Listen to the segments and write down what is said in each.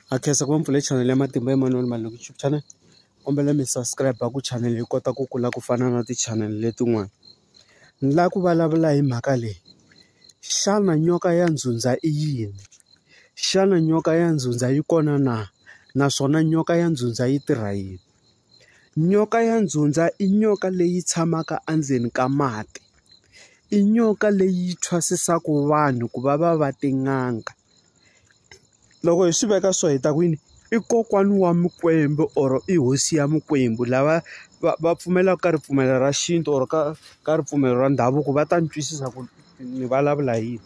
Ha khensa ku va mi pfule chanele ya Matimba Emanuel Maloyi YouTube channel kombela mi subscribe ku chanele yi kota ku kula ku fana na tichanele letin'wana ni lava ku vulavula hi mhaka leyi xana nyoka ya ndzundza i yini xana nyoka ya ndzundza yi kona na naswona nyoka ya ndzundza yi tirha yini nyoka ya ndzundza i nyoka leyi tshamaka endzeni ka mati i nyoka leyi thwasisaku vanhu ku va va va tin'anga. loko hi swi veka so hi ta ku yini i kokwana wa mikwembu or i hosi ya mikwembu lava va va pfumelaka ka ripfumelo ra xintu or ka ka ripfumelo ra ndhavuko va ta ni twisisa ku ni vulavula hi yini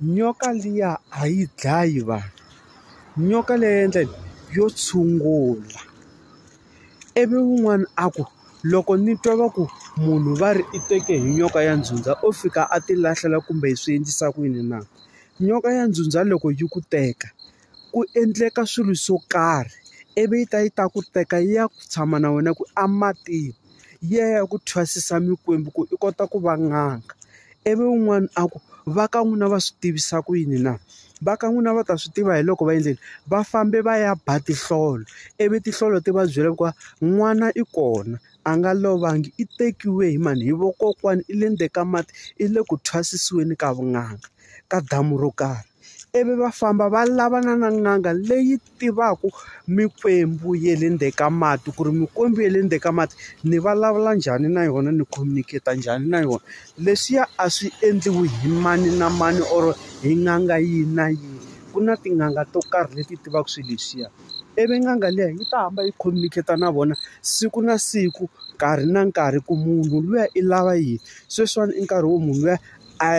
nyoka liya a yi dlayi vanhu nyoka leyi ya endla yini yo tshungula ivi wun'wana a ku loko ni twa va ku munhu va ri i teke hi nyoka ya ndzhuti a o fika a ti lahlela kumbe hi swi endlisa ku yini na nyoka ya ndzhudzha loko yi ku teka ku endleka swilo swo karhi ivi yi ta yi ta ku teka yi ya ku tshama na wena ku ematini yi ya ya ku thwasisa mikwembu ku i kota ku va n'anga ivi un'wana a ku va ka n'wina va swi tivisa ku yini na va ka n'wina va ta swi tiva hi loko va endleni va fambe va ya ba tinhlolo ivi tinhlolo ti va byela ku n'wana i kona. a nga lovangi i tekiwe hi mani? Hi vakokwani, i le ndzeni ka mati, i le ku thwasisiweni ka vun'anga, ka damu ro karhi. Ivi va famba va lavana na n'anga leyi tivaka mikwembu ya le ndzeni ka mati, ku ri mikwembu ya le ndzeni ka mati ni vulavula njhani na yona, ni communicate-a njhani na yona. Leswiya a swi endliwi hi mani na mani or hi n'anga yihi na yihi. Ku na tin'anga to karhi leti tivaka swilo leswiya. ivi n'anga liya yi ta hamba yi communicate-a na vona siku na siku nkarhi na nkarhi ku munhu luya i lava yini sweswiwani i nkarhi wo munhu luya a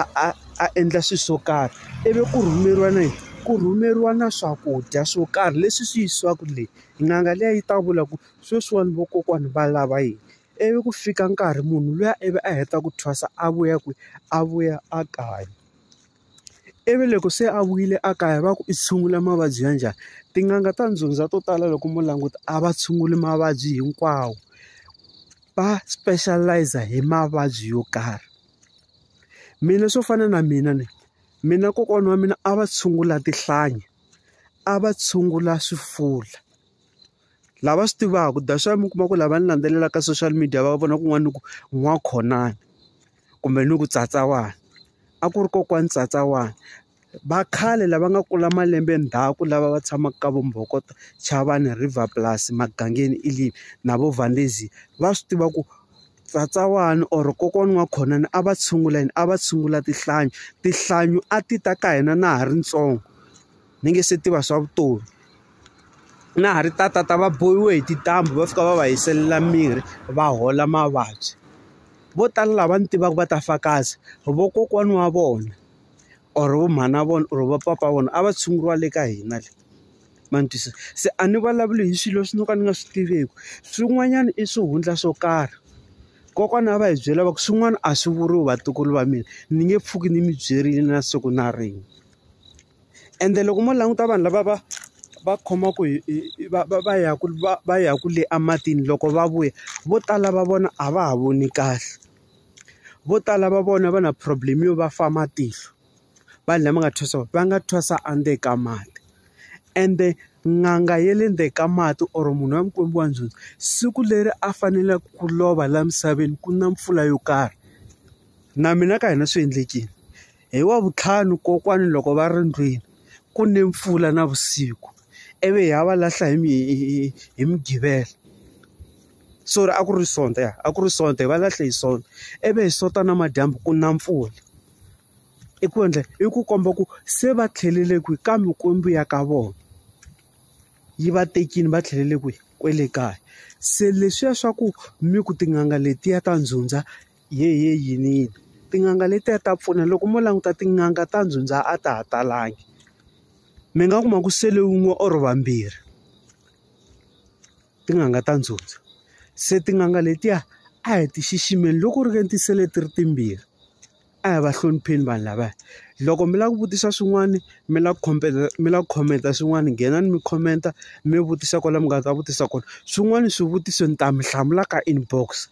a a a endla swilo swo karhi ivi ku rhumeriwa na yini ku rhumeriwa na swakudya swo karhi leswi swi yisiwaka le n'anga liya yi ta vula ku sweswiwani vakokwana va lava yini ivi ku fika nkarhi munhu luya ivi a heta ku thwasa a vuya kwihi a vuya a kaya. ivi loko se a vuyile a kaya va ku i tshungula mavabyi ya njhani tin'anga ta ndzundzha to tala loko mo languta a va tshunguli mavabyi hinkwawo va specialize hi mavabyi yo karhi mina swo fana na mina ni mina kokwana wa mina a va tshungula tinhlanyi a va tshungula swifuva. Lava swi tivaka that's why mi kuma ku lava ni landzelelaka ka social media va vona kun'wana ni ku n'wa khonani kumbe ni ku tsatsa wani a ku ri kokwani tsatsa wani va khale lava nga kula malembe ndzhaku lava va tshamaka ka vo mbhokoto chavani river plus magangeni i le na vo valezia va swi tiva ku tsatsa wani or kokwana wa kona a va tshungula yini a va tshungula tinhlanyi tinhlanyi a ti ta ka hina na ha ri ntsongo. ni nge se tiva swa vutomi na ha ri tatata va bohiwe hi tintambhu va fika va va hiselela mirhi va hola mavabyi vo tala lava ni tivaka va ta fakazi vokokwani wa vona or vo mhana vona or va papa wa vona a va tshunguriwa le ka hina le ma ni twisisa se a ni vulavuli hi swilo swi no ka ni nga swi tiveki swin'wanyana i swihundla swo karhi kokwana a va hi byela va ku swin'wana a swi vuriwi vatukulu va mina ni nge pfuki ni mi byerile na siku na rin'we. ende loko mo languta vanhu lava va va khomaka hi hi hi va va va yaka va va yaka le ematini loko va vuya vo tala va vona a va ha voni kahle vo tala va vona va na problem yo va fa matihlo vanhu lava nga thwasa va nga thwasa endzeni ka mati ende n'anga ya le ndzeni ka mati or munhu wa mikwembu wa njhani siku leri a faneleke ku lova laha misaveni ku na mpfula yo karhi na mina ka hina swi endlekile. Hi Wavuntlhanu kokwani loko va ri ndlwini ku ne mpfula na vusiku ivi hi ya va lahla hi hi hi Mugqivela sorry a ku ri Sonto ya a ku ri Sonto hi va lahle hi Sonto ivi hi Sonto namadyambu ku na mpfula i ku endla i ku komba ku se va tlhelele kwihi ka mikwembu ya ka vona yi va tekini va tlhelele kwihi kwele kaya se leswiya swa ku mi ku tin'anga letiya ta ndzundza Hehe yiniyini tin'anga letiya ta pfuna loko mo languta tin'anga ta ndzundza a ta ha talangi mi nga kuma ku sele wun'we or vambirhi tin'anga ta ndzundza se tin'anga letiya a hi ti xiximeni loko ku ri ke ni ti sele ti ri timbirhi a hi va hlonipheni vanhu lavaya loko mi lava ku vutisa swin'wana mi lava ku khomela mi lava ku khomenta swin'wana nghenani mi khomenta mi vutisa kwala mi nga ta vutisa kona swin'wana swivutiso ni ta mi hlamula ka inbox.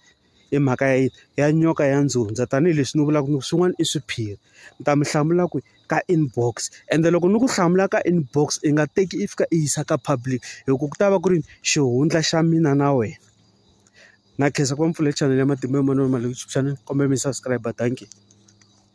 hi mhaka ya yini ya nyoka ya ndzundza tanihileswi ni vulaka ku swin'wana i swiphiri ni ta mi hlamula ku ka inbox ende loko ni ku hlamula ka inbox i nga teki i fika i yisa ka public hi ku ku ta va ku ri xihundla xa mina na wena na khensa ku va mi pfulele chanel ya matimba ya manana Maluleke xana kombela mi subscribe dankie.